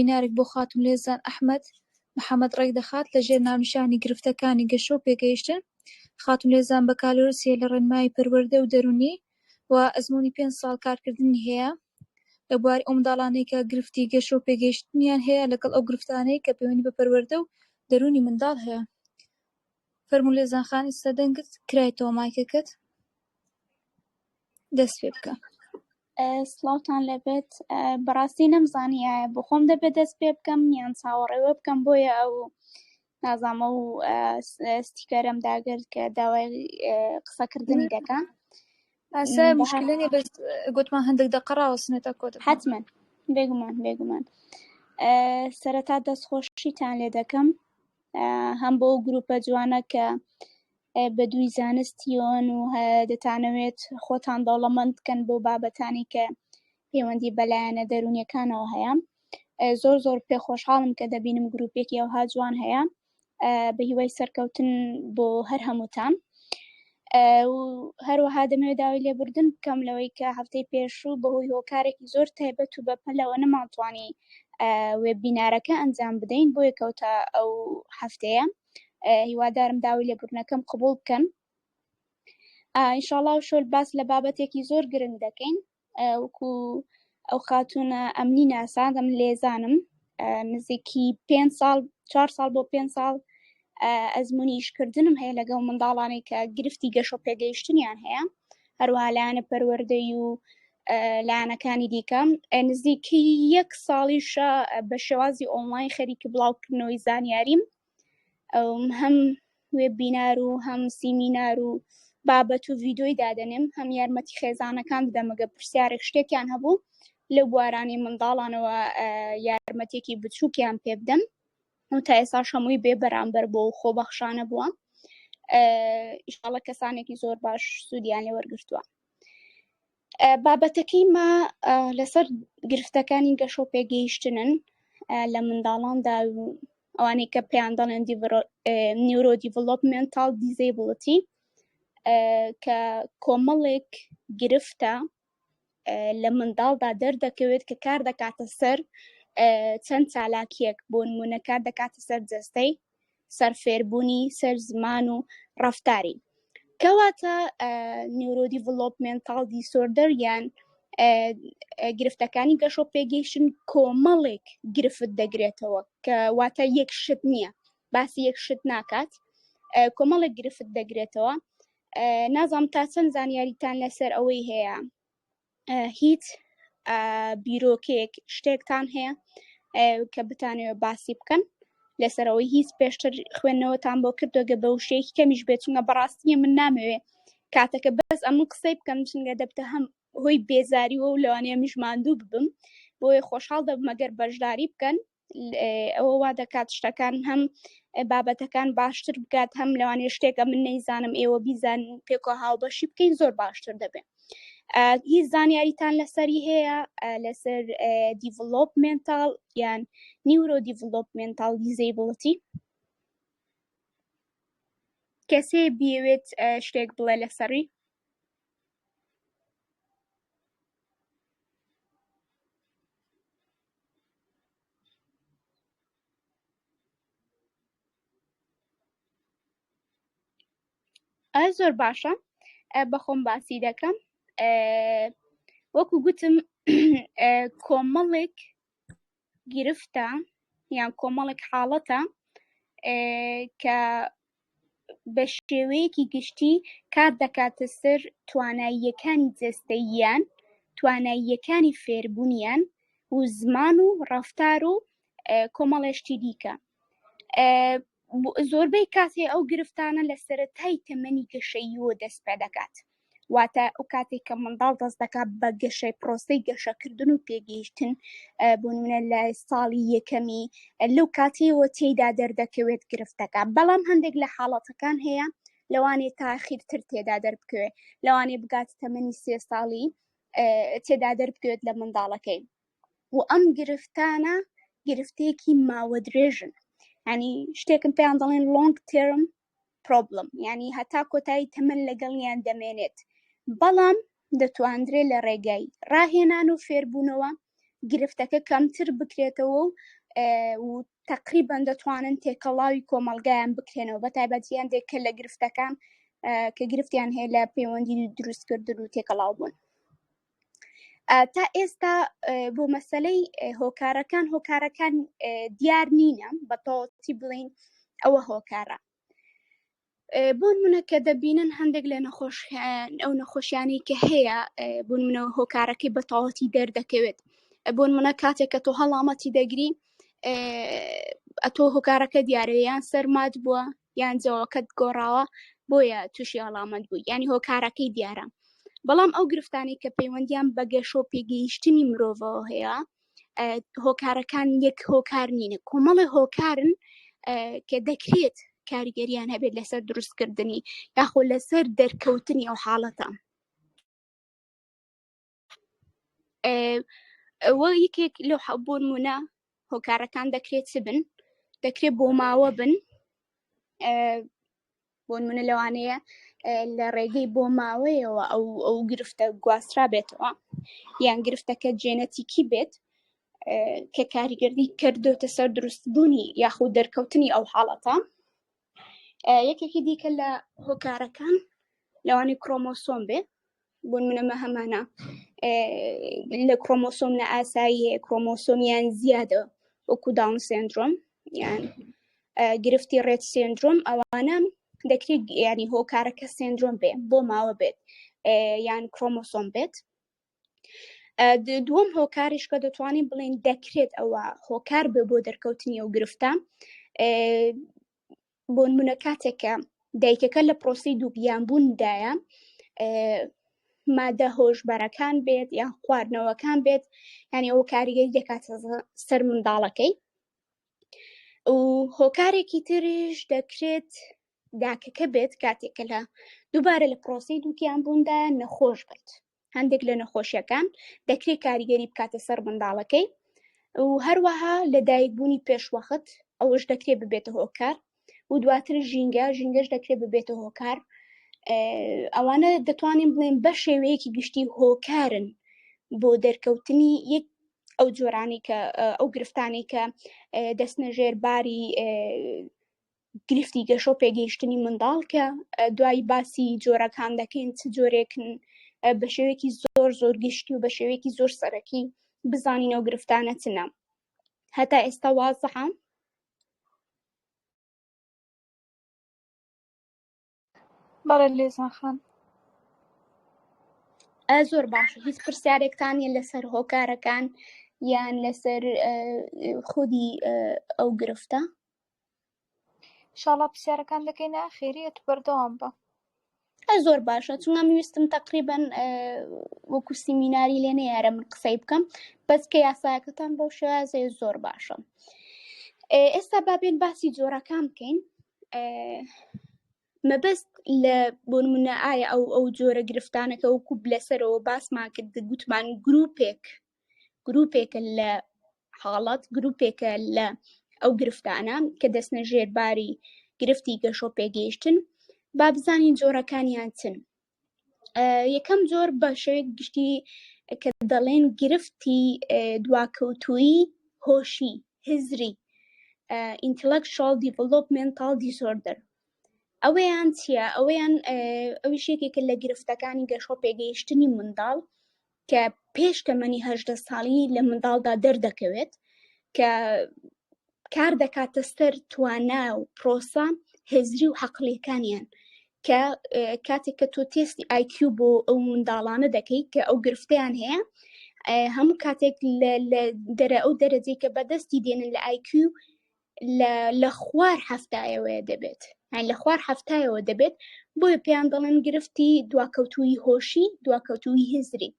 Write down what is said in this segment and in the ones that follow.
سمینارێک بۆ خاتوو لێزان ئەحمەد محەمەد ڕێکدەخات لەژێر ناونیشانی گرفتەکانی گەشە و پێگەیشتن، خاتوو لێزان بەکالۆرسیە لە ڕێنمایی پەروەردە و دەروونی و ئەزموونی پێنج ساڵ کارکردنی هەیە لە بواری ئەو منداڵانەی کە گرفتی گەشە و پێگەیشتنیان هەیە لەگەڵ ئەو گرفتانەی کە پەیوەندی بە پەروەردە و دەروونی منداڵ هەیە. فەرموو لێزان خان ئیستا دەنگت کرایتەوە مایکەکەت دەست پێ بکە. سڵاوتان لەبێت بەڕاستی نەمزانی ئایا بخۆم دەبێت دەست پێ بکەم یان چاوەڕێوە بکەم بۆیە ئەو نازامە و ستیکەرم داگرت کە داوای قسەکردنی دەکەم ئاسا مشکلێنی بەس گوتمان هەندێک دە قەڕاوە سنێتە کۆت حتممە بێگومان بێگومان سەرەتا دەستخۆشیتان لێ دەکەم هەم بۆ گروپە جوانە کە بەدووی زانستیۆن و دەتانەوێت خۆتان دەوڵەمەند بکەن بۆ بابەتانی کە پەیوەندی بەلایەنە دەرونیەکانەوە هەیە زۆر زۆر پێ خۆشحاڵم کە دەبینم گرروپێکی ئەوها جوان هەیە بە هیوای سەرکەوتن بۆ هەر هەمووتان هەروەها دەمێ داوای لێبوردن بکەم لەوەی کە هەفتەی پێشوو بەهۆی هۆکارێکی زۆر تایبەت و بەپەلەوە نەمانتوانی وێبینارەکە ئەنجام بدەین بۆیە کەوتە ئەو هەفتەیە هیوادارم داوی لێبوردنەکەم قبول بکەن ئینشاڵاو شۆل باس لە بابەتێکی زۆر گرنگ دەکەین وەکو ئەو خاتونە ئەمنی ناسادەم لێزانم نزیکی پێ ساڵ چهار ساڵ بۆ پێ ساڵ ئەزممویشکردنم هەیە لەگەڵ منداڵانی کە گرفتی گەشە پێگەیشتنیان هەیە هەروەها لایەنە پەروەردەی و لایەنەکانی دیکە نزیکی یەک ساڵیشە بە شێوازی ئۆنلاین خەریکی بڵاوکردنەوەی زانیاریم هەم وێ بینار و هەم سیمینار و بابەت و ڤیددیوی دادەنێم هەم یارمەتی خێزانەکان بدەمەگە پرسیارێک شتێکیان هەبوو لە بوارانی منداڵانەوە یارمەتێکی بچووکیان پێ بدەم و تا ئێساش هەمووی بێ بەرامبەر بۆ و خۆ بەخشانە بووە ئیشاڵە کەسانێکی زۆر باش سوودیان لێ وەرگتووە بابەتەکەی ما لەسەر گرفتەکانی گەشۆ پێگەیشتنن لە منداڵاندا و ئەوانەی کە پێیان دەڵێن نیورۆ دیڤلوپمنتال دیزیبڵتی کە کۆمەڵێک گرفتە لە منداڵدا دەردەکەوێت کە کار دەکاتە سەر چەند چالاکیەک بۆ نمونە کار دەکاتە سەر جەستەی سەر فێربوونی سەر زمان و ڕفتاری کەواتە نیورۆدی ڤلۆپمنتال دیسۆردەر یان گرفتەکانی گەشۆ پێگەیشتن کۆمەڵێک گرفت دەگرێتەوە کە واتە یەک شت نییە باسی یەک شت ناکات کۆمەڵێک گرفت دەگرێتەوە نازانم تا چەند زانیاریتان لەسەر ئەوەی هەیە هیچ بیرۆکێک شتێکتان هەیە کە بتانەوە باسی بکەن لەسەرەوەی هیچ پێشتر خوێندنەوەتان بۆ کردوگە بە وشەیەکی کەمیش بێت چونگە بەڕاستیە من نامەوێ کاتەکە بەس ئەمن قسەی بکەم چنگە دەبتە هەم هۆی بێزاری و لەوانەیە مژماندوو ببم بۆیە خۆشحاڵ دەبمەگەر بەشداری بکەن ئەوە وا دەکات شتەکان هەم بابەتەکان باشتر بکات هەم لەوانێ شتێکە من نەیزانم ئێوە بیزان پێکۆ هاوبەشی بکەین زۆر باشتر دەبێت هیچ زانیاریتان لەسەری هەیە لەسەر دیڤلۆپمنتال یان نیورۆ دیڤلۆپمنتال دیزیبڵەتی کەسێ بیەوێت شتێک بڵێ لەسەری زۆر باشە بەخۆم باسی دەکەم وەکو گوتم کۆمەڵێک گرفتە یان کۆمەڵێک حاڵەتە کە بەشێوەیەکی گشتی کات دەکاتە سەر تواناییەکانی جەستەییان، تواناییەکانی فێربونیان و زمان و ڕەفتار و کۆمەڵێ شتی دیکە. زۆربەی کات ئەو گرفتانە لە سەرەتای تەمەنی گەشەییەوە دەست پێدەکات. واتە ئەو کاتێک کە منداڵ دەست دەکات بە گەشەی پرۆسی گەشەکردن و پێگەیشتن بوونە لە ساڵی یەکەمی لەو کاتیەوە تێدا دەردەکەوێت گرفتەکە بەڵام هەندێک لە حاڵەتەکان هەیە لەوانێ تاخیرتر تێدا دەربکەوێت لەوانێ بگات تەمەنی سێ ساڵی تێدا دەربکەوێت لە منداڵەکەی و ئەم گرفتانە گرفتێکی ماوە درێژن ینی شتێکم پێیان دەڵێن لۆنگ تێرم پرۆبڵم یانی هەتا کۆتایی تەمەن لەگەڵیان دەمێنێت بەڵام دەتواندرێ لە ڕێگای ڕاهێنان و فێربوونەوە گرفتەکە کەمتر بکرێتەوە و و تقریبان دەتوانن تێکەڵاوی کۆمەلگایان بکرێنەوە بە تایبەتیان دێک کە لە گرفتەکان کە گرفتیان هەیە لە پەیوەندی دروستکردن و تێکەڵاو بوون تا ئێستا بۆ مەسلەی هۆکارەکان هۆکارەکان دیار نینە بە تۆتی بڵین ئەوە هۆکارە بۆن منە کە دەبینن هەندێک لە نەخۆش ئەو نەخۆشیانی کە هەیە بوون منەوە هۆکارەکەی بە تەواتی دەردەکەوێت بۆن منە کاتێک کە تۆ هەڵامەتی دەگری ئەتۆ هۆکارەکە دیارەیان سەرمات بووە یان جەوەکەت گۆڕاوە بۆیە تووشی هەڵامەت بووی یانی هۆکارەکەی دیارە بەڵام ئەو گرفتانی کە پەیوەندیان بە گەشۆ پێگەیشتنی مرۆڤەوە هەیە هۆکارەکان یەک هۆکار نینە کۆمەڵی هۆکارن کە دەکرێت کاریگەریان هەبێت لەسەر دروستکردنی یاخۆ لەسەر دەرکەوتنی ئەو حاڵەتە ئەوە یەکێک لە حەبوون منە هۆکارەکان دەکرێت چ بن دەکرێت بۆ ماوە بن بۆ منە لەوانەیە لە ڕێگەی بۆ ماوەیەوە ئەو ئەو گرفتە گواسترا بێتەوە یان گرفتەکە جێنەتیکی بێت کە کاریگەردی کردوتە سەر دروستبوونی یاخود دەرکەوتنی ئەو حاڵەتە یەکێکی دیکە لە هۆکارەکان لەوانی کرۆمۆسۆم بێ بۆ منەمە هەمانە لە کرۆمۆسۆم لە ئاسایی کرۆمۆسۆمیان زیادە وەکو داون سندرۆم یان گرفتی ڕێت سندرۆم ئەوانە دەکرێت ینی هۆکارەکە سندرۆم بێ بۆ ماوە بێت یان کرۆمۆسۆم بێت دووەم هۆکاریش کە دەتوانین بڵین دەکرێت ئەوە هۆکار بێ بۆ دەرکەوتنی ئەو گرفتە بۆ منە کاتێکە دایکەکە لە پرۆسی دووبیان بووندایە مادە هۆشبەرەکان بێت یان خواردنەوەکان بێت ینی ئەو کاریگەری دەکات سەر منداڵەکەی و هۆکارێکی تریش دەکرێت داکەکە بێت کاتێکە لە دووبارە لە پرۆسی دووکیان بووندا نەخۆش بێت هەندێک لە نەخۆشیەکان دەکرێت کاریگەری بکاتە سەر منداڵەکەی و هەروەها لە دایکبوونی پێشوەخت ئەوەش دەکرێت ببێتە هۆکار و دواتر ژینگە ژینگەش دەکرێت ببێتە هۆکار ئەوانە دەتوانین بڵێن بە شێوەیەکی گشتی هۆکارن بۆ دەرکەوتنی یەک ئەو جۆرانی کە ئەو گرفتانی کە دەستنەژێر باری گرفتی گەشۆ پێگەیشتنی منداڵ کە دوای باسی جۆرەکان دەکەین چ جۆرێکن بە شێوەیەکی زۆر زۆر گشتی و بە شێوەیەکی زۆر سەرەکی بزانینەوە گرفتانە چنە هەتا ئێستا وازحە بەڵێ لێزان خان. ئە زۆر باشە هیچ پرسیارێکتان یە لەسەر هۆکارەکان یان لەسەر ئە، خودی ئە، ئەو گرفتە شاڵا پرسیارەکان دەکەینە خێریە تو بەردەوام بە ئە زۆر باشە چونگە من ویستم تقریبا ئە، وەکو سیمیناری لێ نەیارە من قسەی بکەم بەس کە یاساکەتان بەو شێوازەیە زۆر باشە ئێ، ئێستا بابێن باسی جۆرەکان بکەین مەبەست لە بۆنمونە ئایا ئەو ئەو جۆرە گرفتانەکە و کوب لەسەرەوە باسمان کرد گوتمان گرروپێک گرروپێکە لە حاڵات گرروپێکە لە ئەو گرفتانە کە دەستنە ژێرباری گرفتی گەشۆ پێگەیشتن با بزانین جۆرەکانیان چن یەکەم جۆر بە شێوەیەک گشتی کە دەڵێن گرفتی دواکەوتویی هۆشی هزری ئینتلکشال دیڤلوپمنتال دیسۆردەر ئەوەیان چییە ئەوەیان ئەویشێکێکە لە گرفتەکانی گەشۆ پێگەیشتنی منداڵ کە پێش تەمەنی هەژدە ساڵی لە منداڵدا دەردەکەوێت کە کار دەکاتە سەر توانا و پرۆسە هزری و حەقلیەکانیان کە کاتێک کە تۆ تێستی IQ بۆ ئەو منداڵانە دەکەیت کە ئەو گرفتیان هەیە هەموو کاتێک لە دەرە ئەو دەرەجەی کە بەدەستی دێنن لە IQ لە خوار هەفتایەوەیە دەبێت هەن لە خوار هەفتایەوە دەبێت بۆیە پێیان دەڵێن گرفتی دواکەوتوی هۆشی دواکەوتوی هزری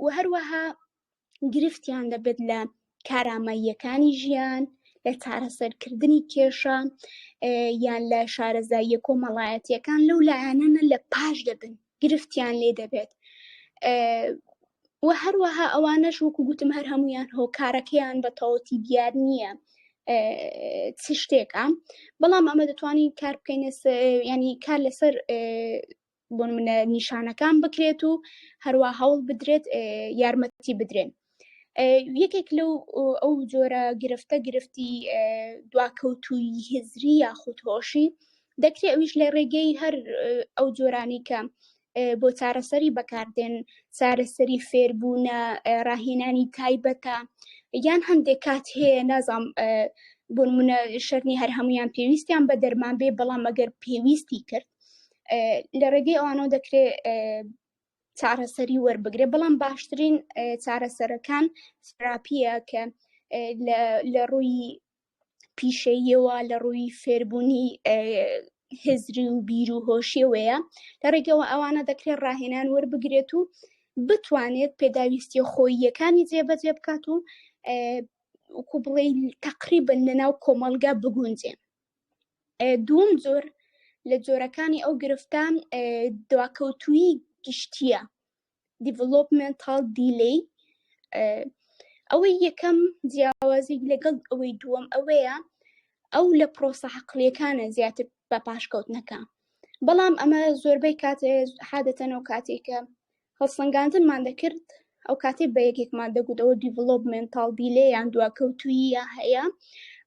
و هەروەها گرفتیان دەبێت لە کاراماییەکانی ژیان لە چارەسەرکردنی کێشە یان لە شارەزاییە کۆمەڵایەتیەکان لەو لایەنەنە لە پاش دەبن گرفتیان لێ دەبێت و هەروەها ئەوانەش وەکو گوتم هەر هەمویان هۆکارەکەیان بە تەواتی دیار نییە چ شتێکە بەڵام ئەمە دەتوانین کار بکەین ینی کار لەسەر بۆن منە نیشانەکان بکرێت و هەروە هەوڵ بدرێت یارمەتی بدرێن یەکێک لەو ئەو جۆرە گرفتە گرفتی دواکەوتوی هزری یاخود هۆشی دەکرێت ئەویش لە ڕێگەی هەر ئەو جۆرانی کە بۆ چارەسەری بەکاردێن چارەسەری فێربوونە ڕاهێنانی تایبەتە یان هەندێک کات هەیە نازام بۆ منە شەرنی هەر هەمویان پێویستیان بە دەرمان بێ بەڵام ئەگەر پێویستی کرد لە ڕێگەی ئەوانەوە دەکرێت چارەسەری وەربگرێ بەڵام باشترین چارەسەرەکان تراپیە کە لە ڕووی پیشەیەوە لە ڕووی فێربوونی هزری و بیر و هۆشیەوەیە لە ڕێگەوە ئەوانە دەکرێت ڕاهێنان وەربگرێت و بتوانێت پێداویستیە خۆییەکانی جێبەجێ بکات و وکو بڵێ تقریبن لەناو کۆمەلگا بگونجێن دووم جۆر لە جۆرەکانی ئەو گرفتان دواکەوتوی گشتیە دیڤلوپمنتال دیلی ئەوەی یەکەم جیاوازی لەگەڵ ئەوەی دووەم ئەوەیە ئەو لە پرۆسە حقلەکانە زیاتر بە پاشکەوتنەکە بەڵام ئەمە زۆربەی کاتێ حادەتەنەوە کاتێکە هەڵسەنگاندنمان دەکرد ئەو کاتەی بە یەکێکمان دەگوت ئەوە دیڤڵۆپمێنتاڵ دیلێ یان دواکەوتوییە هەیە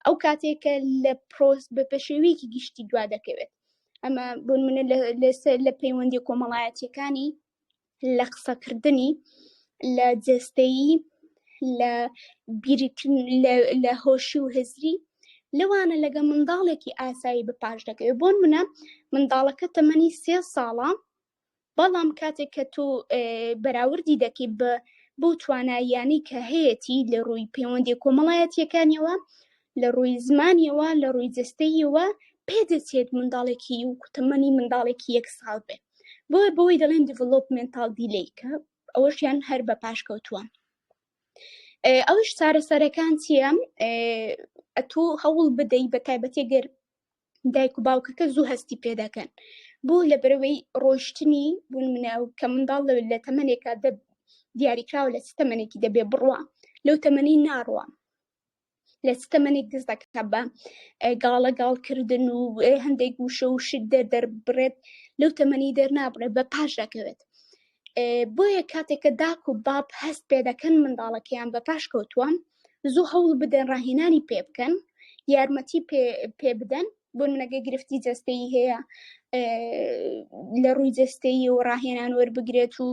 ئەو کاتێکە لە پرۆس بە پێشێویەکی گشتی دوا دەکەوێت ئەمە بۆن منە لەسەر لە پەیوەندی کۆمەڵایەتیەکانی لە قسەکردنی لە جستەیی لە بیرکن لە هۆشی و هزری لەوانە لەگە منداڵێکی ئاسایی بە پاش دەکەوێت بۆن منە منداڵەکە تەمەنی سێ ساڵە بەڵام کاتێک کە تۆ بەراوردی دەکەیت بە بۆ تواناییانی کە هەیەی لە ڕووی پەیوەندی کۆمەڵایەتیەکانیەوە لە ڕووی زمانیەوە لە ڕووی جستەیەوە پێدەچێت منداڵێکی و کوتەمەنی منداڵێکی یەک ساڵ بێ بۆ بەوەی دەڵێن دیڤلوپمنتال دیلیکە ئەوەشیان هەر بە پاشکەوتووە ئەوش چارەسەرەکان چییە ئەتوو هەوڵ بدەی بە تایبەتێگەر دایک و باوکەکە زوو هەستی پێ دەکەن بۆ لە بەرەوەی ڕۆشتنی بوون منە و کە منداڵ لە تەمەنێکە دە دیاریکراوە لە ستەمەنێکی دەبێ بڕوە لەو تەمەنی ناڕوە لە ستەمەنێک دەست دەکە بە گاڵە گاڵکردن و هەندێک وشە و شت دەر دەربڕێت لەو تەمەنی دەرنابڕێت بە پاش دەکەوێت بۆیە کاتێک کە داک و باب هەست پێ دەکەن منداڵەکەیان بە پاش کەوتووە زوو هەوڵ بدەن ڕاهێنانی پێ بکەن یارمەتی پێ بدەن بۆ منەگە گرفتی جستەی هەیە لە ڕووی جستەی و ڕاهێنان وەربگرێت و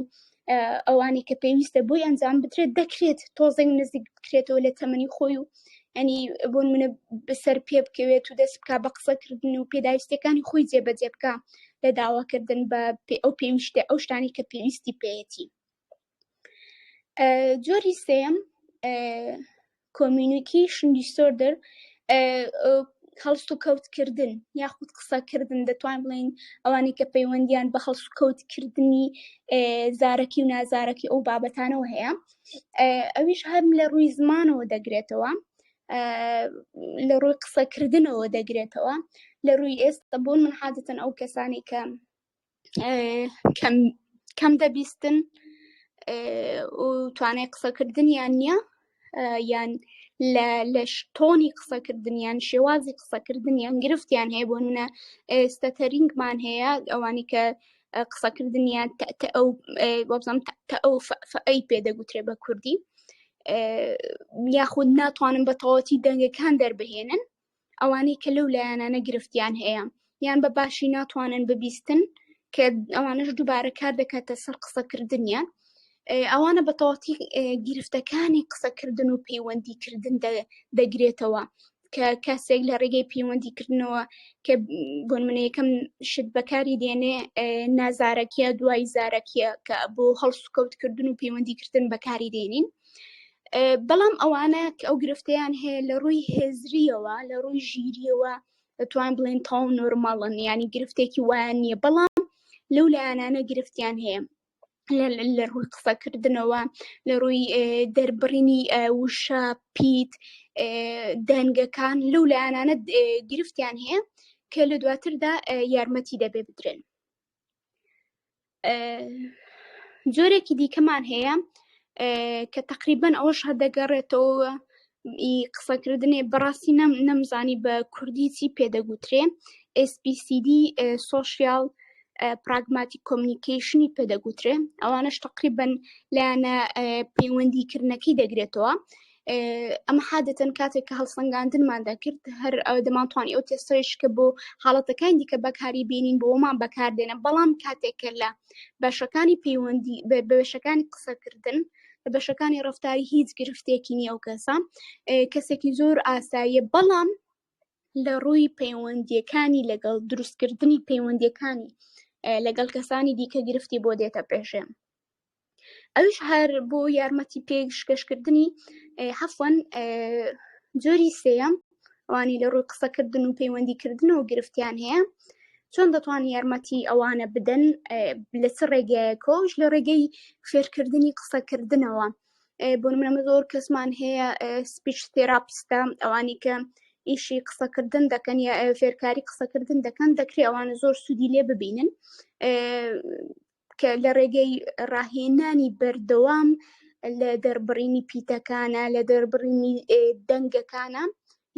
ئەوانی کە پێویستە بۆی ئەنجام بدرێت دەکرێت تۆزێک نزیک بکرێتەوە لە تەمەنی خۆی و ئەنی بۆن منە بەسەر پێ بکەوێت و دەست بک بە قسەکردن و پێداویستەکانی خۆی جێبەجێ بکە لە داواکردن بە پێ ئەو پێویشتە ئەو شتانی کە پێویستی پێەتی جۆری سێم کۆمیونیکی شندی سۆردر هەڵست و کەوتکردن یاخود قسەکردن دەتوان بڵین ئەوانی کە پەیوەندیان بە هەڵس و کەوتکردنی زارەکی و نازارەکی ئەو بابەتانەوە هەیە ئەویش هەرم لە ڕووی زمانەوە دەگرێتەوە لە ڕووی قسەکردنەوە دەگرێتەوە لە ڕووی ئێستا بۆن من حادتن ئەو کەسانی کە کەم دەبیستن و توانای قسەکردنیان نییە یان لە شتۆنی قسەکردنیان شێوازی قسەکردنیان گرفتیان هەیە بۆ منە ئێستا تەرینگمان هەیە ئەوانی کە قسەکردنیان ئەو بەڵام کە ئەو ئەی پێ دەگوترێ بە کوردی یاخود ناتوانن بە تەواتی دەنگەکان دەربهێنن ئەوانەی کە لەو لایەنانە گرفتیان هەیە یان بە باشی ناتوانن ببیستن کە ئەوانش دووبارە کار دەکاتە سەر قسەکردنیان ئەوانە بە تەواتی گرفتەکانی قسەکردن و پەیوەندیکردن دەگرێتەوە کە کەسێک لە ڕێگەی پەیوەندی کردنەوە کە بۆنمونەیەکەم شت بەکاری دێنێ نازارەکیە دوای زارەکیە کە بۆ هەڵسوکەوتکردن و پەیوەندیکردن بەکاری دێنین بەڵام ئەوانە ئەو گرفتیان هەیە لە ڕووی هێزریەوە لە ڕووی ژیریەوە دەتوان بڵێن تاو نۆرماڵن ینی گرفتێکی وایان نییە بەڵام لەو لایەنانە گرفتیان هەیە لە ڕووی قسەکردنەوە لە ڕووی دەربڕینی وشە پیت دەنگەکان لەو لایەنانە گرفتیان هەیە کە لە دواتردا یارمەتی دەبێ بدرێن جۆرێکی دیکەمان هەیە کە تقریبان ئەوەش هەدەگەڕێتەوە ئی قسەکردنێ بەڕاستی نەم نەمزانی بە کوردی چی پێدەگوترێ SPCD سۆشیال پراگماتیک کۆمنیکیشنی پێدەگوترێ ئەوانش تقریبن لایەنە پەیوەندیکردنەکەی دەگرێتەوە ئەمە حادەتەن کاتێک کە هەڵسەنگاندنمان دەکرد هەر دەمانتوانی ئەو تێستەش کە بۆ حاڵەتەکان دیکە بەکاری بینین بۆمان بەکاردێنە بەڵام کاتێک کە لە بەشەکانی پەیوەندی بەشەکانی قسەکردن بەشەکانی ڕفتاری هیچ گرفتێکی نیە و کەسە کەسێکی زۆر ئاساییە بەڵام لە ڕووی پەیوەندیەکانی لەگەڵ دروستکردنی پەیوەندیەکانی لەگەڵ کەسانی دیکە گرفتی بۆ دێتە پێشێ ئەوش هەر بۆ یارمەتی پێشکەشکردنی هەفۆن جۆری سێەم ئەوانی لە ڕووی قسەکردن و پەیوەندیکردنەوە گرفتیان هەیە چۆن دەتوان یارمەتی ئەوانە بدەن لە چ ڕێگایەکەوش لە ڕێگەی فێرکردنی قسەکردنەوە بۆ منەمە زۆر کەسمان هەیە سپیچ تێراپستە ئەوانی کە ئیشی قسەکردن دەکەن یا فێرکاری قسەکردن دەکەن دەکرێ ئەوانە زۆر سوودی لێ ببینن کە لە ڕێگەی ڕاهێنانی بەردەوام لە دەربڕینی پیتەکانە لە دەربڕینی دەنگەکانە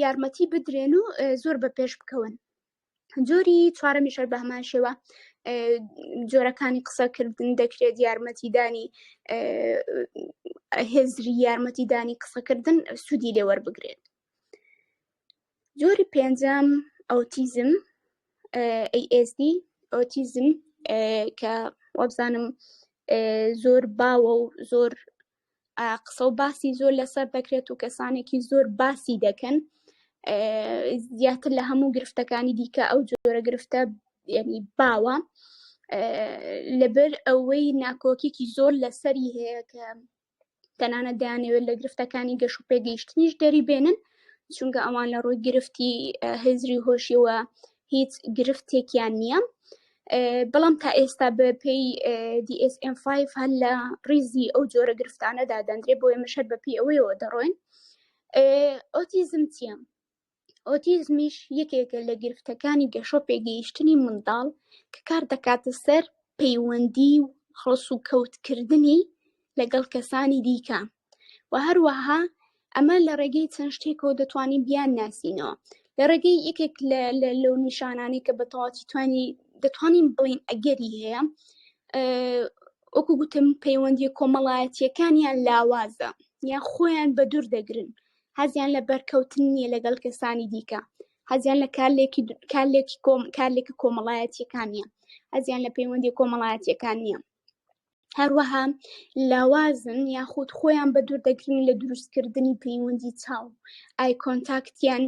یارمەتی بدرێن و زۆر بە پێش بکەون جۆری چوارەمیشەر بە هەمان شێوە جۆرەکانی قسەکردن دەکرێت یارمەتیدانی هێزری یارمەتیدانی قسەکردن سوودی لێوەربگرێت جۆری پێنجەم ئۆتیزم ASD ئۆتیزم کە وابزانم زۆر باوە و زۆر قسە و باسی زۆر لەسەر دەکرێت و کەسانێکی زۆر باسی دەکەن زیاتر لە هەموو گرفتەکانی دیکە ئەو جۆرە گرفتە ینی باوە لەبەر ئەوەی ناکۆکیکی زۆر لەسەری هەیە کە تەنانەت دەیانەوێت لە گرفتەکانی گەش و پێگەیشتنیش دەری بێنن چونکە ئەوان لە ڕووی گرفتی هزری هۆشیەوە هیچ گرفتێکیان نییە بەڵام تا ئێستا بە پێی DSM5 هەر لە ڕیزی ئەو جۆرە گرفتانەدا دەندرێ بۆیە مشەر بە پێی ئەوەیەوە دەڕۆین ئۆتیزم چییە ئۆتیزمیش یەکێکە لە گرفتەکانی گەشە پێگەیشتنی منداڵ کە کار دەکاتە سەر پەیوەندی و هەڵسوکەوتکردنی لەگەڵ کەسانی دیکە و هەروەها ئەمە لە ڕێگەی چەند شتێکەوە دەتوانین بیان ناسینەوە لە ڕێگەی یەکێک لەو نیشانانەی کە بەتەواتی توانی دەتوانین بڵین ئەگەری هەیە وەکو گوتم پەیوەندی کۆمەڵایەتیەکانیان لاوازە یان خۆیان بە دوور دەگرن حەزیان لە بەرکەوتن نییە لەگەڵ کەسانی دیکە حەزیان لە کارلێکی کارلێکی کۆم کارلێکی کۆمەڵایەتیەکان نیە حەزیان لە پەیوەندی کۆمەڵایەتیەکان نییە هەروەها لاوازن یاخود خۆیان بە دوور دەگرین لە دروستکردنی پەیوەندی چاو ئایکۆنتاکتیان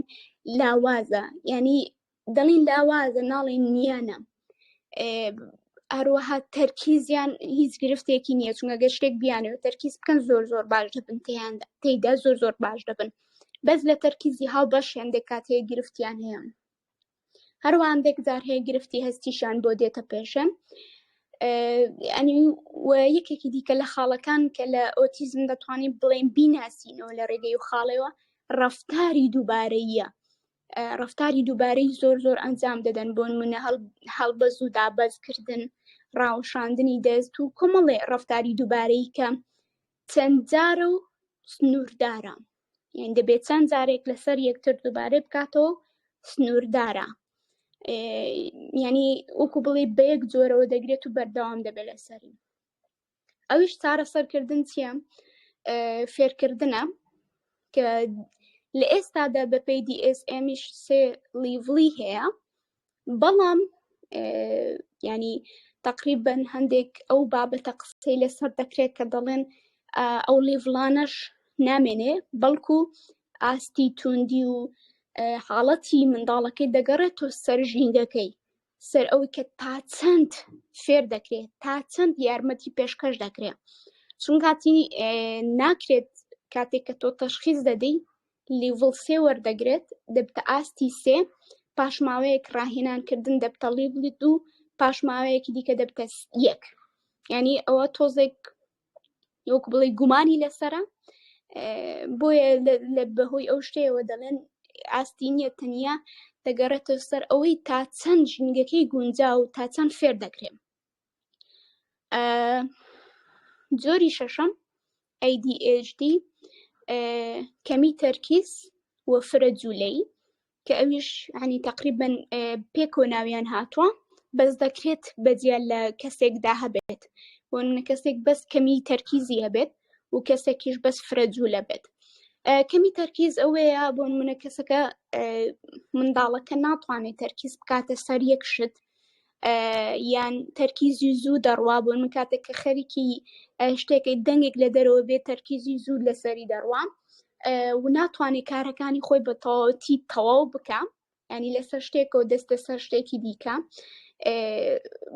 لاوازە یعنی دەڵین لاوازە ناڵین نییانە هەروەها تەرکیزیان هیچ گرفتێکی نییە چونگە گە شتێک بیانەوە تەرکیز بکەن زۆر زۆر باش دەبن تیاندا تێیدا زۆر زۆر باش دەبن بەس لە تەرکیزی هاو بەش هێندێک کات هەیە گرفتیان هەیە هەروەندێک جار هەیە گرفتی هەستیشان بۆ دێتە پێشن ئەنی و یەکێکی دیکە لە خاڵەکان کە لە ئۆتیزم دەتوانین بڵێن بیناسینەوە لە ڕێگەی و خاڵەوە ڕفتاری دووبارەیە ڕفتاری دووبارەی زۆر زۆر ئەنجام دەدەن بۆن منە هەڵبەز و دابەز کردن ڕاوشاندنی دەست و کۆمەڵێ ڕفتاری دووبارەی کە چەند جارە و سنووردارە یان دەبێت چەند جارێک لەسەر یەکتر دووبارە بکاتەوە سنووردارە ینی وەکو بڵێ بەیەک جۆرەوە دەگرێت و بەردەوام دەبێت لەسەری ئەویش چارەسەرکردن چییە فێرکردنە کە لە ئێستادا بە پێی DSMیش سێ لیڤڵی هەیە بەڵام ینی تقریبن هەندێک ئەو بابەتە قسەی لەسەر دەکرێت کە دەڵێن ئەو لیڤڵانەش نامێنێ بەڵکو ئاستی توندی و حاڵەتی منداڵەکەی دەگەڕێت تۆ سەر ژینگەکەی سەر ئەوەی کە تا چەند فێر دەکرێت تا چەند یارمەتی پێشکەش دەکرێت چون کاتی ناکرێت کاتێک کە تۆ تەشخیز دەدەی لیڤڵ سێ وەردەگرێت دەبتە ئاستی سێ پاشماوەیەک ڕاهێنانکردن دەبتە لیڤلی دوو پاشماوەیەکی دیکە دەبتە یەک ینی ئەوە تۆزێک وەک بڵێ گومانی لەسرە بۆیە لە بەهۆی ئەو شتەوە دەڵێن ئاستی نیە تەنیا دەگەڕێتە سەر ئەوەی تا چەند ژینگەکەی گونجا و تا چەند فێر دەکرێن جۆری شەشەم ADHD کەمی تەرکیز و فرە جوولەی کە ئەویش عنی تقریبا پێک و ناویان هاتووە بەس دەکرێت بەجیا لە کەسێکدا هەبێت بۆ نمونە کەسێک بەس کەمی تەرکیزی هەبێت و کەسێکیش بەس فرەجوولە بێت کەمی تەرکیز ئەوەیە بۆ نمونە کەسەکە منداڵەکە ناتوانێت تەرکیز بکاتە سەر یەک شت یان تەرکیزی زوو دەڕوا بۆ من کاتێک کە خەریکی شتێکی دەنگێک لە دەرەوە بێ تەرکیزی زوو لەسەری دەڕوام و ناتوانێت کارەکانی خۆی بە تەواوەتی تەواو بکەم ینی لەسەر شتێکەوە دەستە سەر شتێکی دیکە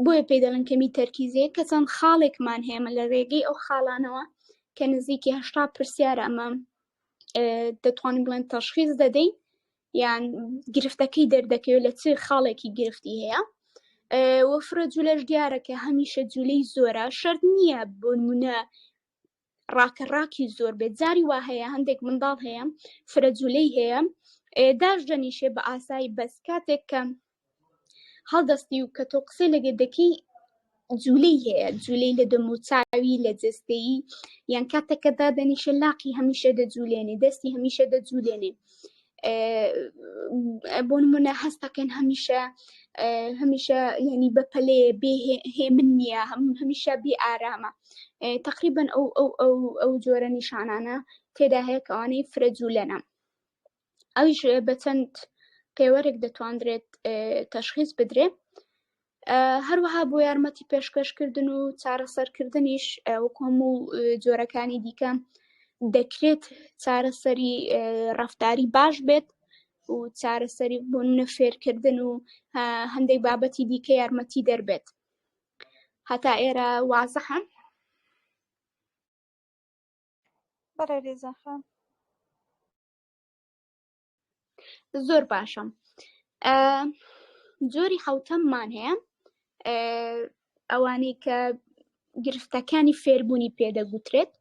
بۆیە پێی دەڵن کەمی تەرکیزەیە کە چەند خاڵێکمان هێمە لە ڕێگەی ئەو خاڵانەوە کە نزیکیهشتا پرسیارە ئەمە دەتوانین بڵێن تەشخیز دەدەین یان گرفتەکەی دەردەکەوێت لە چ خاڵێکی گرفتی هەیە وەفرە جوولەش دیارەکە هەمیشە جوولەی زۆرە شەرت نییە بۆنمونە ڕاکە ڕاکی زۆر بێت جاری وا هەیە هەندێک منداڵ هەیە فرە جوولەی هەیە داش دەنیشێ بە ئاسایی بەس کاتێک کە هەڵدەستی و کە تۆ قسەی لەگە دەکەی جوولەی هەیە جوولەی لە دەموچاوی لە جستەی یان کاتەکە دادەنیشە لاقی هەمیشە دەجوولێنێ دەستی هەمیشە دەجوولێنێ بۆ نمونە هەستەکەن هەمیشە هەمیشە ینی بەپەلێ بێ هێمن نییە هەم هەمیشە بێ ئارامە تقریبن ئەو ئەو ئەو ئەو جۆرە نیشانانە تێدا هەیە کەوانەی فرەجوولەنە ئەویش بە چەند پێوەرێک دەتواندرێت تەشخیز بدرێ هەروەها بۆ یارمەتی پێشکەشکردن و چارەسەرکردنیش وکۆم و جۆرەکانی دیکە دەکرێت چارەسەری ڕفتاری باش بێت و چارەسەری بۆ منە فێرکردن و هەندێک بابەتی دیکە یارمەتی دەربێت هەتا ئێرە وازە هەم بەڕێ رێزاخان زۆر باشم جۆری حوتەممان هەیە ئەوانەی کە گرفتەکانی فێربوونی پێدەگوترێت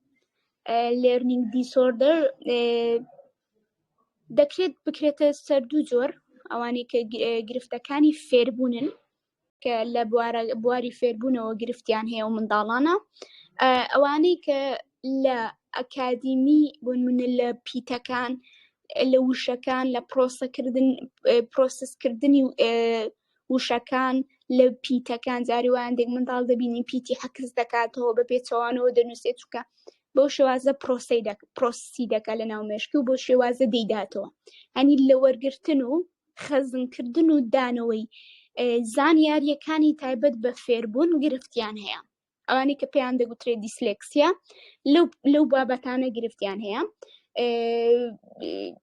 لێرنینگ دیسۆردەر دەکرێت بکرێتە سەر دوو جۆر ئەوانەی کە گرفتەکانی فێربوونن کە لە بواری فێربوونەوە گرفتیان هەیە و منداڵانە ئەوانەی کە لە ئەکادیمی بۆن منە لە پیتەکان لە وشەکان لە پرۆسەکردن پرۆسسکردنی وشەکان لە پیتەکان جاریوان دێک منداڵ دەبینی پیتی حەکس دەکاتەوە بە پێچەوانەوە دەنووسێت چووکە بۆ شێوازە پرۆسی دەکە پرۆسی دەکە لە ناو مێشکی و بۆ شێوازە دەیداتەوە هەنی لە وەرگتن و خەزنکردن و دانەوەی زانیارییەکانی تایبەت بە فێربوون گرفتیان هەیە ئەوانی کە پێیان دەگوترێت دیسلێکسیا لەو بابەتانە گرفتیان هەیە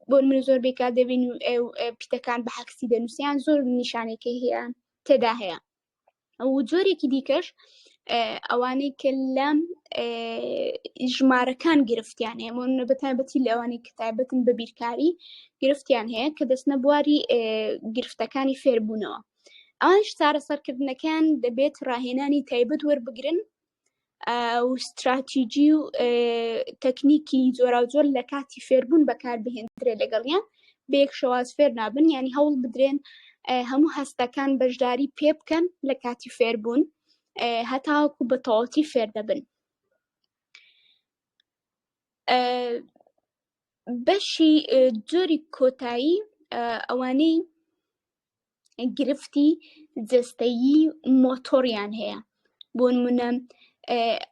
بۆ من زۆر بێکا دەبین و پیتەکان بە حەکسی دەنووسیان زۆر نیشانێکی هەیە تێدا هەیە ئەو جۆرێکی دیکەش ئەوانەی کە لەم ژمارەکان گرفتیان هەیە من بە تایبەتی لەوانی کە تایبەتن بە بیرکاری گرفتیان هەیە کە دەستنە بواری گرفتەکانی فێربوونەوە ئەوان شتارە سەرکردنەکان دەبێت ڕاهێنانی تایبەت وەربگرن و ستراتیجی و تەکنیکی جۆراوجۆر لە کاتی فێربوون بەکار بهێندرێ لەگەڵیان بێک شواز فێر نابن ینی هەوڵ بدرێن هەموو هەستەکان بەشداری پێ بکەن لە کاتی فێربوون هەتاوەکو بە تەواتی فێر دەبن بەشی جۆری کۆتایی ئەوانەی گرفتی جستەیی مۆتۆریان هەیە بۆ نمونە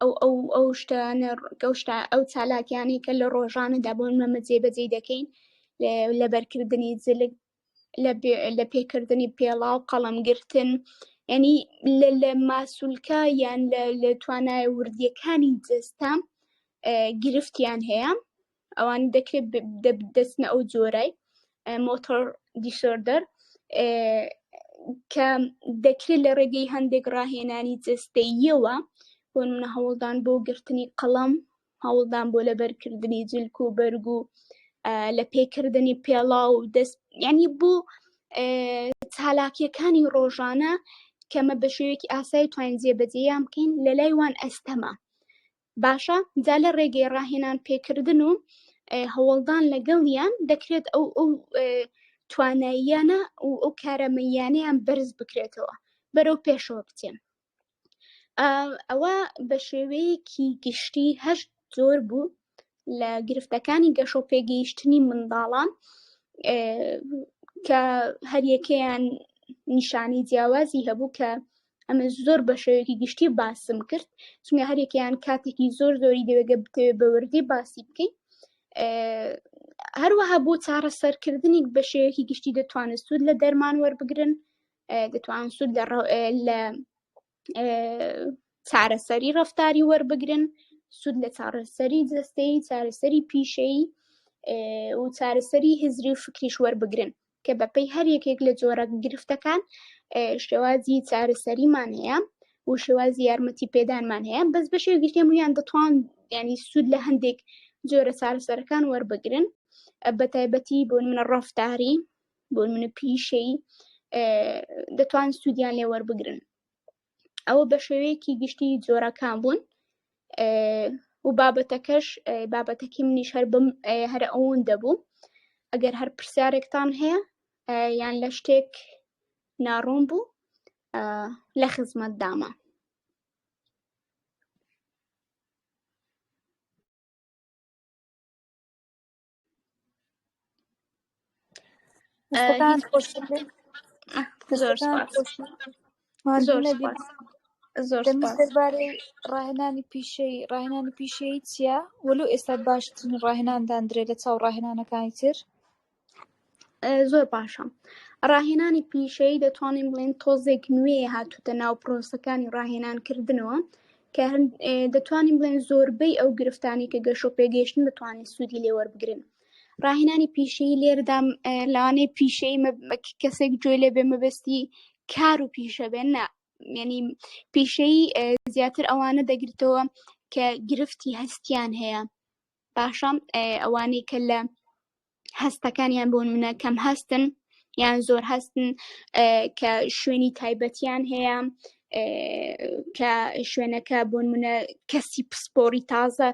ئەو ئەو ئەو شتانە گەشتا ئەو چالاکیانەی کە لە ڕۆژانەدا بۆ مەمە جێبەجێ دەکەین لە بەرکردنی جلک لە پێکردنی پێڵا و قەڵمگرتن ینی لە ماسولکە یان لە توانایە وردیەکانی جستە گرفتیان هەیە ئەوانی دەکرێت دەچنە ئەو جۆرای مۆتۆر دیسۆردەر کە دەکرێت لە ڕێگەی هەندێک ڕاهێنانی جستەیەوە بۆ منە هەوڵدان بۆ گرتنی قەڵم هەوڵدان بۆ لەبەرکردنی جلک و بەرگ و لە پێکردنی پێڵا و دەست ینی بۆ چالاکیەکانی ڕۆژانە کەمە بە شێوێکی ئاسای توانین جێبەجێیان بکەین لە لای وان ئەستەما باشە جا لە ڕێگەی ڕاهێنان پێکردن و هەوڵدان لەگەڵیان دەکرێت ئەو ئەو تواناییانە و ئەو کارەمەیانیان بەرز بکرێتەوە بەرەو پێشەوە بچێن ئەوە بە شێوەیەکی گشتی هەشت زۆر بوو لە گرفتەکانی گەشە و پێگەیشتنی منداڵان کە هەریەکەیان نیشانی جیاوازی هەبوو کە ئەمە زۆر بە شێوەیەکی گشتی باسم کرد چونکە هەرێکیان کاتێکی زۆر زۆری دەوێگە بتەوێت بە وردی باسی بکەین هەروەها بۆ چارەسەرکردنی بە شێوەیەکی گشتی دەتوانن سوود لە دەرمان وەربگرن دەتوان سوود لە چارەسەری ڕفتاری وەربگرن سوود لە چارەسەری جستەی چارەسەری پیشەی و چارەسەری هزری و فکریش وەربگرن کە بەپەی هەر یەکێک لە جۆرە گرفتەکان شێوازی چارەسەریمان هەیە و شێوازی یارمەتی پێدانمان هەیە بەس بەشێ گرتێم و یان دەتوان ینی سوود لە هەندێک جۆرە چارەسەرەکان وەربگرن بە تایبەتی بۆ منە ڕفتاری بۆ منە پیشەی دەتوان سوودیان لێ وەربگرن ئەوە بە شێوەیەکی گشتی جۆرەکان بوون و بابەتەکەش بابەتەکی منیش هەر بم هەر ئەوون دەبوو ئەگەر هەر پرسیارێکتان هەیە یان لە شتێک ناڕوون بوو لە خزمەت دامە دەربارەی ڕاهێنانی پیشەی ڕاهێنانی پیشەی چییە وەلو ئێستا باشترین ڕاهێناندان درێ لە چاو ڕاهێنانەکانی تر زۆر باشە ڕاهێنانی پیشەی دەتوانین بڵێن تۆزێک نوێ هاتوتە ناو پرۆسەکانی ڕاهێنان کردنەوە کە دەتوانین بڵێن زۆربەی ئەو گرفتانی کە گەشۆ پێگەیشتن بتوانین سوودی لێوەربگرن ڕاهێنانی پیشەی لێردام لەوانەیە پیشەی کەسێک گوێ لێ بێ مەبەستی کار و پیشە بێن نە ینی پیشەی زیاتر ئەوانە دەگرتەوە کە گرفتی هەستیان هەیە باشە ئەوانەی کە لە هەستەکانیان بۆ منە کەم هەستن یان زۆر هەستن کە شوێنی تایبەتیان هەیە کە شوێنەکە بۆن منە کەسی پسپۆری تازە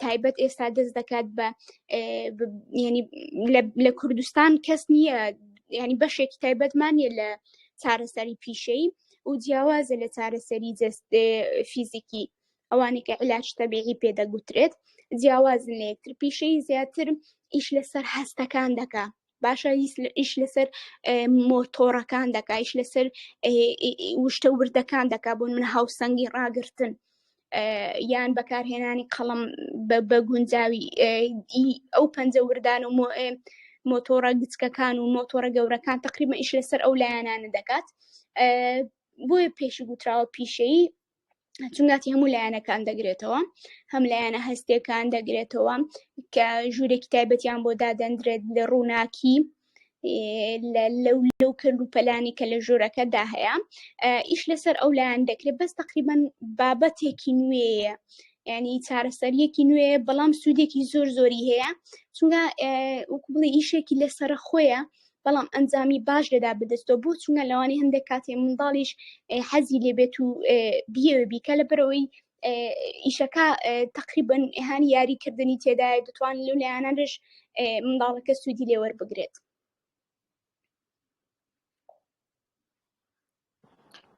تایبەت ئێستا دەست دەکات بە ینی لە کوردستان کەس نییە ینی بەشێکی تایبەتمان نیە لە چارەسەری پیشەی و جیاوازە لە چارەسەری جست فیزیکی ئەوانەی کە علاج تەبیعی پێ دەگوترێت جیاوازن لە یەکتر پیشەی زیاتر ئیش لەسەر هەستەکان دەکا باشە ئیش لەسەر مۆتۆڕەکان دەکا ئیش لەسەر وشتە وردەکان دەکا بۆن من هاوسەنگی ڕاگرتن یان بەکارهێنانی قەڵم بە گونجاوی ئەو پەنجە وردان و مۆتۆڕە گچکەکان و مۆتۆڕە گەورەکان تقریبە ئیش لەسەر ئەو لایەنانە دەکات بۆیە پێشی گوتراوە پیشەی چونگاتی هەموو لایەنەکان دەگرێتەوە هەم لایەنە هەستێکان دەگرێتەوە کە ژوورێکی تایبەتیان بۆ دادەندرێت لە ڕووناکی لەو لەو کرد و پەلانی کە لە ژوورەکەدا هەیە ئیش لەسەر ئەو لایەن دەکرێت بەس تقریبان بابەتێکی نوێیە ینی چارەسەریەکی نوێ بەڵام سوودێکی زۆر زۆری هەیە چونگە وکبڵی ئیشێکی لەسەر خۆیە بەڵام ئەنجامی باش لێدا بدەستەوە بۆ چونە لەوانی هەندێک کاتێ منداڵیش حەزی لێبێت و بیەوە بیکە لە بەرەوەی ئیشەکە تقریبن ئەهانی یاریکردنی تێدای دەتوان لەو لایەنانش منداڵەکە سوودی لێوەربگرێت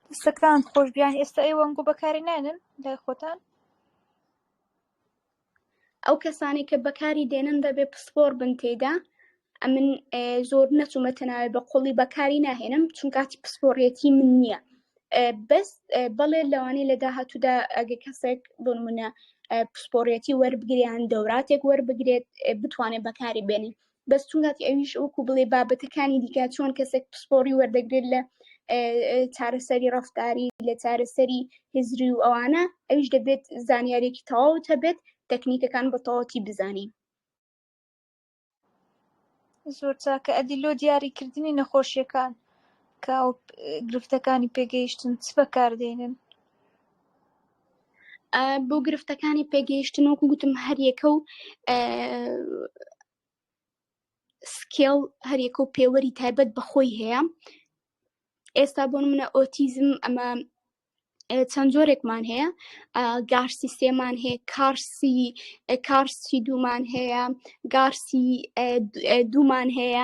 دەستەکان خۆش بیان ئێستا ئەی وەنگۆ بەکاری نانن لای خۆتان ئەو کەسانی کە بەکاری دێنن دەبێ پسپۆر بن تێدا ئەمن زۆر نەچوومە تەناوێ بە قوڵی بەکاری ناهێنم چونکاتی پسپۆڕێتی من نییە بەس بەڵێ لەوانەیە لە داهاتوودا ئەگە کەسێک بنمونە پسپۆڕێتی وەربگریان دەوراتێک وەربگرێت بتوانێت بەکاری بێنین بەس چون کاتی ئەویش وەکو بڵێ بابەتەکانی دیکە چۆن کەسێک پسپۆڕی وەردەگرێت لە چارەسەری ڕفتاری لە چارەسەری هزری و ئەوانە ئەویش دەبێت زانیارێکی تەواوت هەبێت تەکنیکەکان بە تەواتی بزانین زۆر چاکە ئەدی لۆ دیاریکردنی نەخۆشیەکان کە گرفتەکانی پێگەیشتن چ بەکاردێنن بۆ گرفتەکانی پێگەیشتن وەکو گوتم هەریەکە و سکێڵ هەریەکە و پێوەری تایبەت بەخۆی هەیە ئێستا بۆ منە ئۆتیزم ئەمە چەند جۆرێکمان هەیە گارسی سێمان هەیە کارسی کارسی دوومان هەیە گارسی دوومان هەیە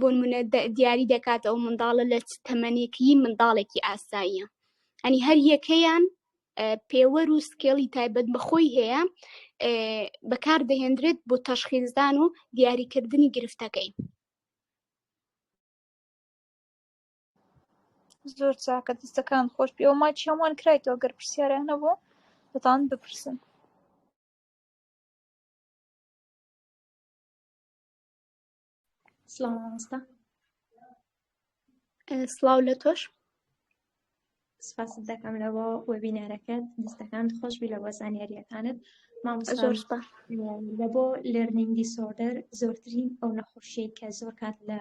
بۆنمونە دیاری دەکات ئەو منداڵە لە تەمەنێکی منداڵێکی ئاساییە ئەنی هەر یەکەیان پێوەر و سکێڵی تایبەت بەخۆی هەیە بەکار دەهێندرێت بۆ تەشخیزدان و دیاریکردنی گرفتەکەی زۆر چاکە دەستەکان خۆش پێ و ماچ هەمووان کرایتەوە گەر پرسیاریان نەبوو دەتان بپرسن سڵاو مامۆستا سڵاو لە تۆش سپاست دەکەم لەوە وەبینەرەکەت دەستەکان خۆشبی لە وەزانیاریەکانت مامۆستۆر لە بۆ لەرنینگ دیسۆردەر زۆرترین ئەو نەخۆشی کە زۆر کات لە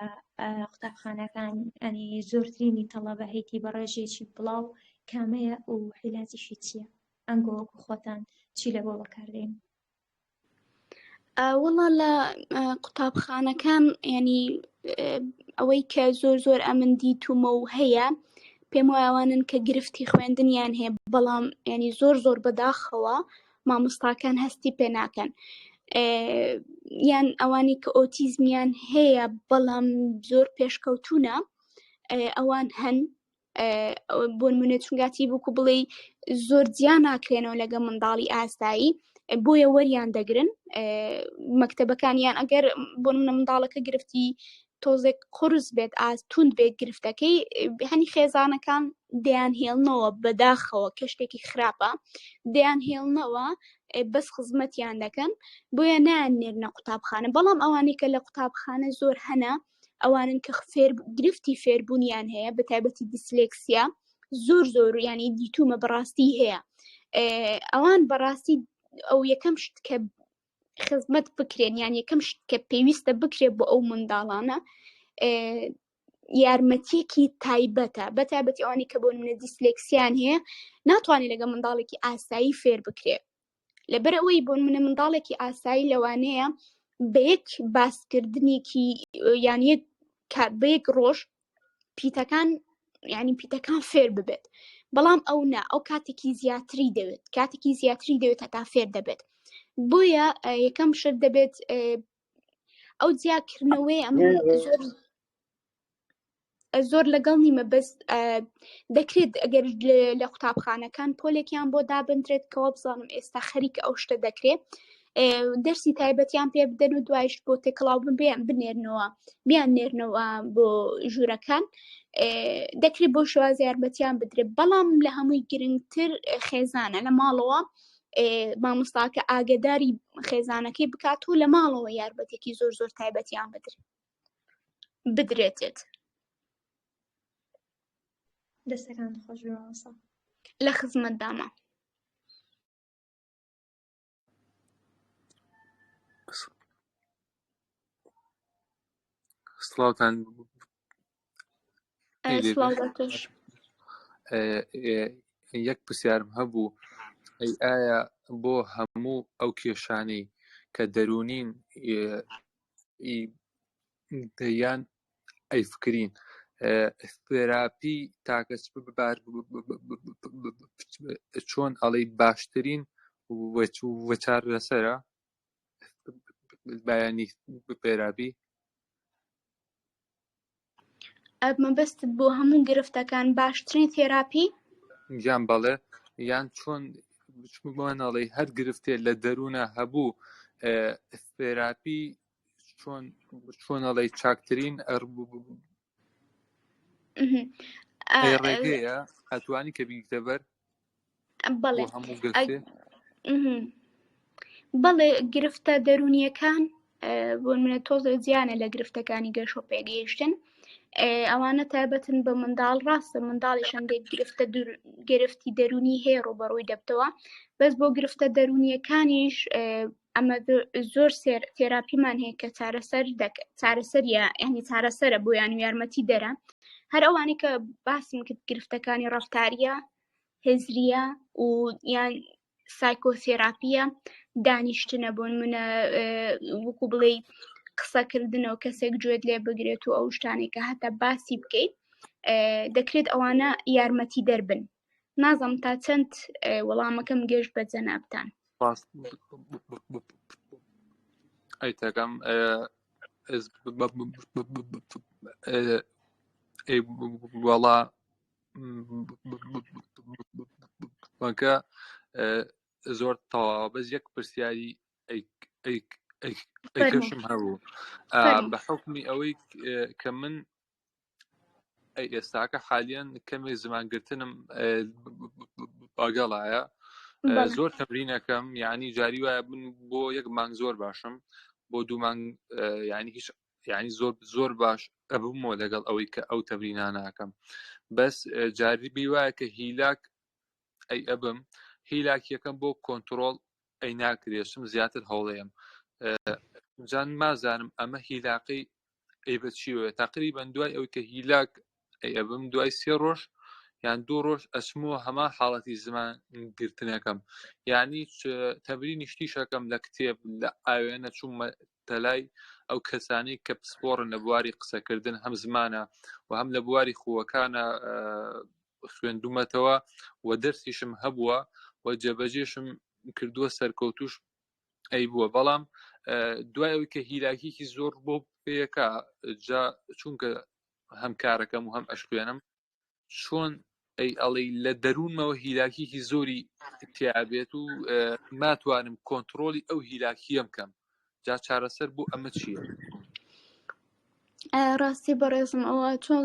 قوتابخانەکان ئەنی زۆرترینی تەڵەبە هەیتی بە ڕێژێکی بڵاو کامەیە و حیلاتیشی چییە ئەنگۆوەکو خۆتان چی لە بۆ بەکاردێن وەڵا لە قوتابخانەکان ینی ئەوەی کە زۆر زۆر ئەمن دیتومە و هەیە پێم وایوانن کە گرفتی خوێندنیان هەیە بەڵام ینی زۆر زۆر بەداخەوە مامۆستاکان هەستی پێ ناکەن یان ئەوانی کە ئۆتیزمیان هەیە بەڵام زۆر پێشکەوتونە ئەوان هەن بۆن منێت چونگاتی بکو بڵێ زۆر جیا ناکرێنەوە لەگە منداڵی ئاسایی بۆیە وەریان دەگرن مەکتتەبەکانیان ئەگەر بۆ منە منداڵەکە گرفتی تۆزێک قرس بێت ئاز تونند بێت گرفتەکەی هەنی خێزانەکان دەیان هێڵنەوە بەداخەوە کە شتێکی خراپە دەیان هێڵنەوە بەس خزمەتیان دەکەن بۆیە نان نێرنە قوتابخانە بەڵام ئەوانەی کە لە قوتابخانە زۆر هەنا ئەوانن کە فێر گرفتی فێربوونیان هەیە بە تایبەتی دیسلێکسیا زۆر زۆر ینی دیتومە بەڕاستی هەیە ئەوان بەڕاستی ئەو یەکەم شت کە خزمەت بکرێن یان یەکەم شت کە پێویستە بکرێت بۆ ئەو منداڵانە یارمەتیەکی تایبەتە بە تایبەتی ئەوانی کە بۆ منە دیسلێکسیان هەیە ناتوانێت لەگە منداڵێکی ئاسایی فێر بکرێت لەبەر ئەوەی بۆ منە منداڵێکی ئاسایی لەوانەیە بە یەک باسکردنێکی یان یەک بە یەک ڕۆژ پیتەکان یعنی پیتەکان فێر ببێت بەڵام ئەو نا ئەو کاتێکی زیاتری دەوێت کاتێکی زیاتری دەوێت هەتا فێر دەبێت بۆیە یەکەم شت دەبێت ئەو جیاکردنەوەی ئەم زۆر لەگەڵ نیمە بەس دەکرێت ئەگەر لە قوتابخانەکان پۆلێکیان بۆ دابدرێت کەوا بزانم ئێستا خەریک ئەو شتە دەکرێت دەرسی تایبەتیان پێ بدەن و دوایش بۆ تێکڵاو ببیان بنێرنەوە بیان نێرنەوە بۆ ژوورەکان دەکرێت بۆ شواز یارمەتیان بدرێت بەڵام لە هەمووی گرنگتر خێزانە لە ماڵەوە مامۆستاکە ئاگداری خێزانەکەی بکات و لە ماڵەوە یارمەتێکی زۆر زۆر تایبەتیان بدرێت بدرێتێت دەستەکان خۆش بێمەوەسا لە خزمەت دامە سڵاوتان یەک پرسیارم هەبوو ئەی ئایا بۆ هەموو ئەو کێشانەی کە دەرونین دەیان ئەی فکرین تێراپی تاکە بار چۆن ئەڵی باشترین وەچار لەسرە بەیانی پێرابی مەبەستت بۆ هەموو گرفتەکان باشترین تێراپی یان بەڵێ یان چۆن بچمانەڵی هەر گرفتێ لە دەروونە هەبوو تێراپی چۆن چۆنەڵی چاکترین ڕێگەیە ئەتوانی کە بینکتە بەر بەڵێ گرفتە دەرونیەکان بۆ منە تۆزە زیانە لە گرفتەکانی گەشە و پێگەیشتن ئەوانە تایبەتن بە منداڵ ڕاستە منداڵی شەندێک گرفتە گرفتی دەرونی هەیە ڕوبەڕووی دەبتەوە بەس بۆ گرفتە دەرونیەکانیش ئەمە زۆر سێر تێراپیمان هەیە کە چارەسەر چارەسەریە ئەنی چارەسەرە بۆیان و یارمەتی دەرە هەر ئەوانی کە باسم کرد گرفتەکانی ڕفتاریە هزریە و یان سایکۆسێراپیە دانیشتنە بۆن منە وکو بڵێ قسەکردنەوە کەسێک گوێت لێ بگرێت و ئەو شتانێکە هەتا باسی بکەیت دەکرێت ئەوانە یارمەتی دەربن نازم تا چەند وەڵامەکەم گەشت بە جەنابان ئەیتەکەم وەڵا بەکە زۆر تەوا بەس یەک پرسیاری ئەیکەشم هەبوو بە حکمی ئەوەی کە من ئەی ئێستاکە حالیان کەمێک زمان گرتنم ئەگەڵایە زۆر تەمرینەکەم یعنی جاری وایە بن بۆ یەک مانگ زۆر باشم بۆ دوو مانگ ینی هیچ ینی زۆر زۆر باش ئەبوومەوە لەگەڵ ئەوەی کە ئەو تەمرینا ناکەم بەس جاری بی وایە کە هیلاک ئەی ئەبم هیلاکیەکەم بۆ کۆنتترۆل ئەی ناکرێشم زیاتر هەوڵەیەم جان مازانم ئەمە هیلاقی ئەی بە چی وە تقریبا دوای ئەو کە هیلاک ئەی ئەبم دوای سێ ڕۆژ یان دوو ڕۆژ ئەسمۆ هەما حاڵەتی زمان گرتنەکەم یعنی تەبری نیشتیشەکەم لە کتێب لە ئاوێنە چوومە تەلای ئەو کەسانی کە پسپۆڕن لە بواری قسەکردن هەم زمانە و هەم لە بواری خووەکانە خوێندومەتەوە و دەرسیشم هەبووە و جێبەجێشم کردووە سەرکەوتوش ئەی بووە بەڵام دوای ئەوی کە هیلاکیکی زۆر بۆ پێەکە جا چونکە هەم کارەکەم و هەم ئەشکێنم چۆن ئەی ئەڵی لە دەروونمەوە هیلاکیکی زۆری تیابێت و ناتوانم کۆنتترۆلی ئەو هیلاکیەم کەم جا چارەسەر بۆ ئەمە چییە ڕاستی بەڕێزم ئەوە چۆن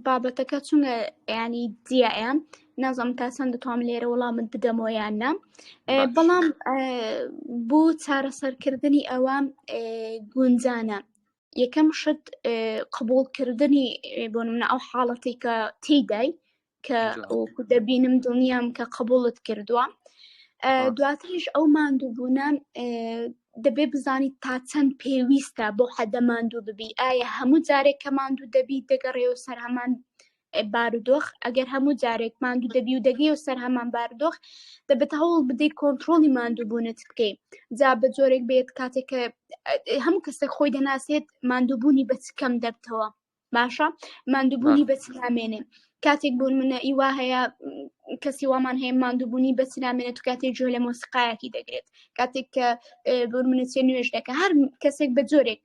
بابەتەکە چونگە ینی دیایە نازم تا چەند دەتوام لێرە وڵامت بدەمەوە یان نام بەڵام بۆ چارەسەرکردنی ئەوە گونجانە یەکەم شت قبولکردنی بۆ منە ئەو حاڵەتی کە تێدای کە وەکو دەبینم دڵنیام کە قبولت کردووە دواتریش ئەو ماندووبوونە دەبێ بزانیت تا چەند پێویستە بۆ حەدە ماندوو ببی ئایا هەموو جارێک کە ماندوو دەبی دەگەڕێ و سەر هەمان بارودۆخ ئەگەر هەموو جارێک ماندوو دەبی و دەگەی و سەر هەمان بارودۆخ دەبێت هەوڵ بدەیت کۆنتترۆلی ماندووبوونت بکەیت جا بە جۆرێک بێت کاتێک کە هەموو کەسێک خۆی دەناسێت ماندووبوونی بەچکەم دەبتەوە باشە ماندووبوونی بەچ نامێنێ کاتێک بۆ منە ئیوا هەیە کەسی وامان هەیە ماندووبوونی بەچ نامێنێت تو کاتێک جوێ لە مۆسیقایەکی دەگرێت کاتێک کە بۆ منە چێ نوێش دەکە هەر کەسێک بە جۆرێک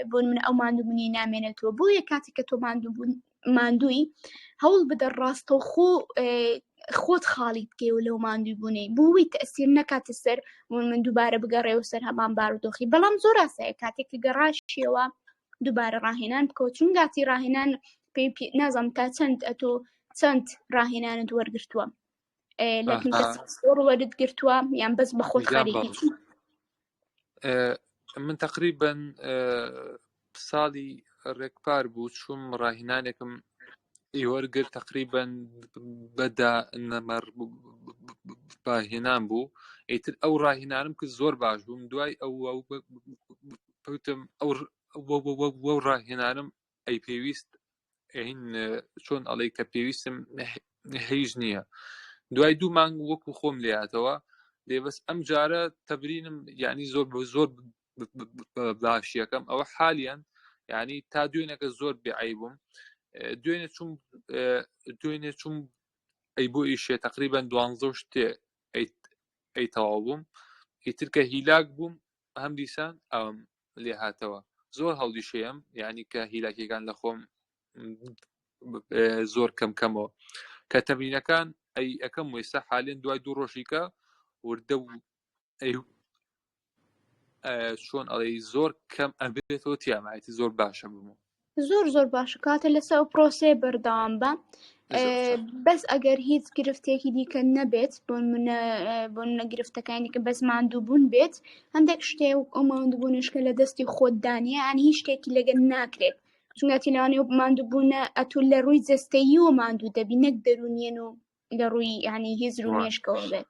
بۆ من ئەو ماندووبوونی نامێنێتەوە بۆیە کاتێک کە تۆ ماندووبوون ماندووی هەوڵ بدە ڕاستە و خۆ خۆت خاڵی بکەی و لەو ماندوی بوونەی بووی تەسیر نەکاتە سەر من من دووبارە بگەڕێ و سەر هەمان بارودۆخی بەڵام زۆر ئاسایە کاتێک کە گەڕاشیەوە دووبارە ڕاهێنان بکەوە چون گاتی ڕاهێنان پێی نازم تا چەند ئەتۆ چەند ڕاهێنانت وەرگتووە وەرت گرتووە یان بەس بە خۆت من تقریبن ساڵی ڕێکپار بوو چوم ڕاهینانێکم ئیوەرگر تقریبن بەدا نەمەڕ باهێنان بوو ئیتر ئەو ڕاهینانم کرد زۆر باش بووم دوای ئەو وتم ئەو وەو ڕاهێنانم ئەی پێویست ئەین چۆن ئەڵێ کە پێویستم هیچ نییە دوای دوو مانگ وەکو خۆم لاتەوە لێ بەس ئەم جارە تەبرینم یعنی زۆر بە زۆر باشیەکەم ئەوە حالیان یعنی تا دوێنەکە زۆر بێعی بووم دوێنێ چوم دوێنێ چوم ئەی بۆ ئیشێ تقریبان دوانزە شتێ ئەی تەواو بووم ئیترکە هیلاک بووم هەم دیسان ئەوم لێ هاتەوە زۆر هەڵدی شێم یعنی کە هیلاکیەکان لە خۆم زۆر کەم کەمەوە کە تەمرینەکان ئەی ئەەکەم وێستا حالێن دوای دوو ڕۆژیکە وردە چۆن ئەڵێ زۆر کەم ئەبێتەوە تیامایەتی زۆر باشە بمەوە زۆر زۆر باشە کاتە لەسەر ئەو پرۆسەیە بەردەوام بە بەس ئەگەر هیچ گرفتێکی دیکە نەبێت بۆ منە بۆ نەگرفتەکانی کە بەس ماندووبوون بێت هەندێک شتێ و ئەو ماندووبوونشکە لە دەستی خۆت دانیە ئەنی هیچ شتێکی لەگەن ناکرێت چونەتی لەوانێ ماندووبوونە ئەتو لە ڕووی جستەیی و ماندوو دەبی نەک دەرونیێن و لە ڕووی ینی هزر و مێشکەوە بێت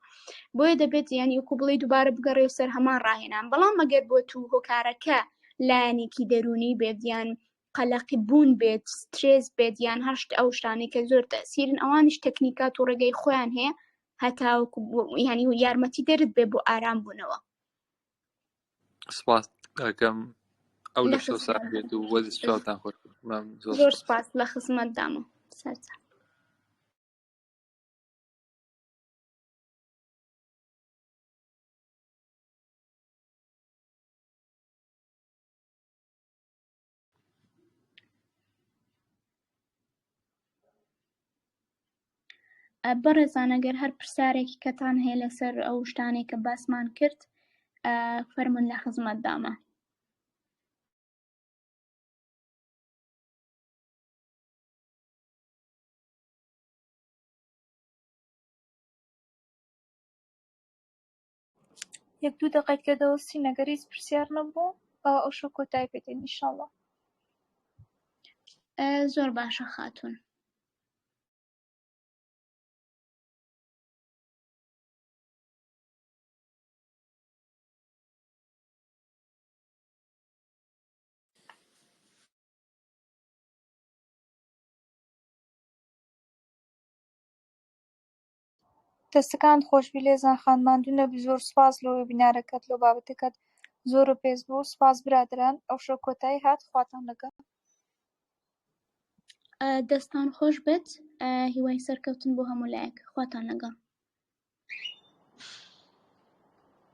بۆیە دەبێت ینی وکو بڵێ دووبارە بگەڕێ و سەر هەمان ڕاهێنان بەڵام مەگەر بۆ تو هۆکارەکە لایەنێکی دەرونی بێدیان قەلەقی بوون بێت سترێز بێت یان هەشت ئەو شتانی کە زۆر تەسیرن ئەوانش تەکنیکات و ڕێگەی خۆیان هەیە هەتاوەکو ینی و یارمەتی دەرت بێ بۆ ئارام بوونەوە سپاس ئەکەم ئەو لە شەو ساعت بێت و وەزی چاوتان خۆش زۆر سپاس لە خزمەت دامە سەرچە بەڕێزانە گەر هەر پرسیارێکی کەتان هەیە لەسەر ئەو شتانێک کە باسمان کرد فەرمون لە خزمەت دامە یەک دوو دەقەیت لێ دەوەستین ئەگەر هیچ پرسیار نەبوو ئەوە ئەو شەو کۆتای پێدەین ئینشاڵڵا زۆر باشە خاتون دەستەکانت خۆشبی لێزان خان ماندوو نەبی زۆر سوپاس لۆ وێبینارەکەت لۆ بابەتەکەت زۆرۆ پێز بوو سوپاس برادەران ئەوشۆ کۆتای هات خواتان لەگەڵ. دەستان خۆش بێت هیوای سەرکەوتن بۆ هەموو لایەک خواتان لەگەڵ.